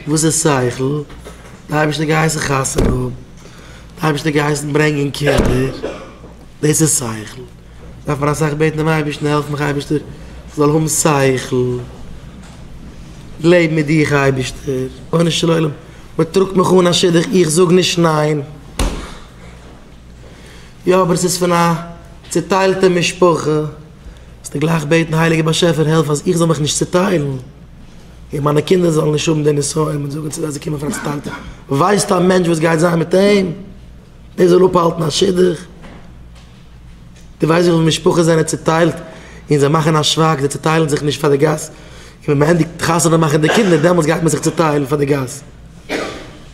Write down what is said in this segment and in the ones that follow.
וואס איז שכל? די אייבערשטער געהייסן חתונה האבן, די אייבערשטער געהייסן ברענגען קינדער, דאס איז שכל, דארף מען אסאך בעטן דעם אייבערשטן, העלף מיך אייבערשטער כ'זאל האבן שכל, לעבן מיט דיך אייבערשטער, רבונו של עולם מ'טראגט מיך אן א שידוך איך זאג נישט ניין, יא אבער עס איז פון א צוטיילטע משפחה. זאלסטו גלייך בעטן הייליגער באשעפער העלף אז איך זאל מיך נישט צוטיילן און מיינע קינדער זאלן נישט האבן די נסיון און זאגן צו זיי זיי קומען פון א צוטיילטע ווייסט א מענטש וואס גייט זיין מיט אים דער זאל אפהאלטן א שידוך דו ווייסט וויפיל משפחות זענען צוטיילט און זיי מאכן א שווייג זיי צוטיילן זיך נישט פאר די גאס און ווען מען ענדיגט חתונה מאכן די קינדער דעמאלטס גייט מען זיך צוטיילן פאר די גאס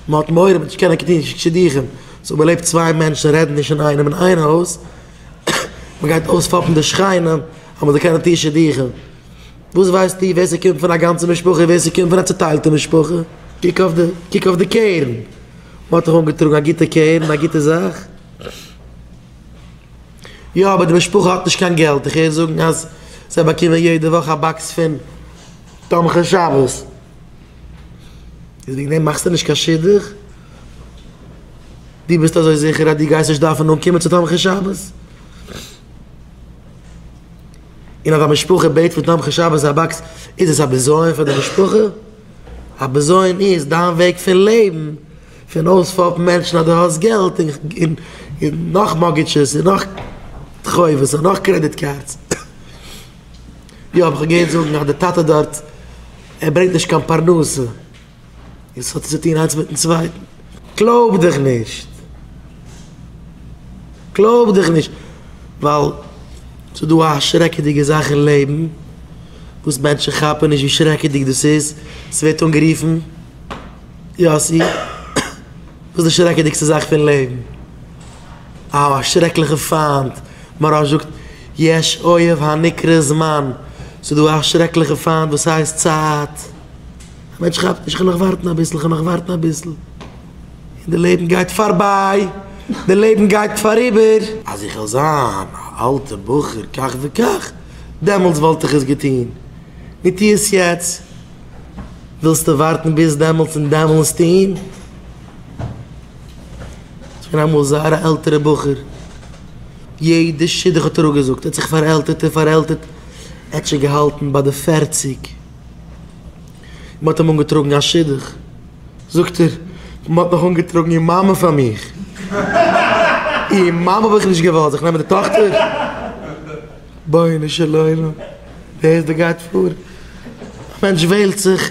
מען האט מורא מען וועט נישט קענען קענען נישט שידוכים סאו מען לעבט צוויי מענטשן רעדן נישט אינאיינעם אין איין הויז. מען גייט אויספאפן די שכנים אז מען זאל קענען טוהן שידוכים. וואס ווייסטו ווער ס'קומט פון א גאנצע משפחה און ווער ס'קומט פון א צוטיילטע משפחה? קוק אויף די קוק אויף די קרן. מען האט דאך אנגעטראגן א גוטע קרן, א גוטע זאך. יא, אבער די משפחה האט נישט קיין געלט. איך הער זאגן אז זיי באקומען יעדע וואך א באקס פון תומכי שבת. איז וועגן דעם מאכסטו נישט קיין שידוך? דו ביסט אזוי זיכער אז דו גייסט נישט דארפן אנקומען צו תומכי שבת? און אז א משפחה בעט פון תומכי שבת א באקס, איז עס א בזיון פאר די משפחה? א בזיון איז דיין וועג פון לעבן, פון אויספאפן מענטשן אז דו האסט געלט און נאך מארטגעדזשעס און נאך חובות און נאך קרעדיט קארדס. יא האב איך געהערט זאגן אז די טאטע דארט ער ברענגט נישט קיין פרנסה און ס'האט צו טון איינס מיטן צווייטן. קלויב דיך נישט! קלויב דיך נישט! ווייל ס'איז דא א שרעקעדיגע זאך אין לעבן וואס מענטשן כאפן נישט ווי שרעקעדיג דאס איז, ס'ווערט אנגערופן יאסי, וואס איז די שרעקעדיגסטע זאך פון לעבן? א שרעקליכע פיינט, מוהרא ש זאגט, יש אויב הנקרא זמן, ס'איז דא א שרעקליכע פיינט וואס הייסט צייט. א מענטש כאפט נישט, כ'על נאך ווארטן אביסל, כ'על נאך ווארטן אביסל, און די לעבן גייט פארביי, די לעבן גייט פאריבער. אז איך וועל זיין א אלטע בחור כך וכך, דעמאלטס וואלט איך עס געטון, נו טו עס יעצט, ווילסטו ווארטן ביז דעמאלטס און דעמאלטס טון? ס'געווען אמאל זייער א עלטערע בחור, יעדע שידוך האט ער אפגעזאגט, ער האט זיך פארעלטערט און פארעלטערט, ער האט שוין געהאלטן ביי די פערציג, מען האט אים אנגעטראגן א שידוך, זאגט ער, מען האט נאך אנגעטראגן איר מאמע פאר מיך, איר מאמע האב איך נישט געוואלט, זאל איך נעמען די טאכטער? בונו של עולם, ווער איז דער גייט פאר? א מענטש וועלט זיך.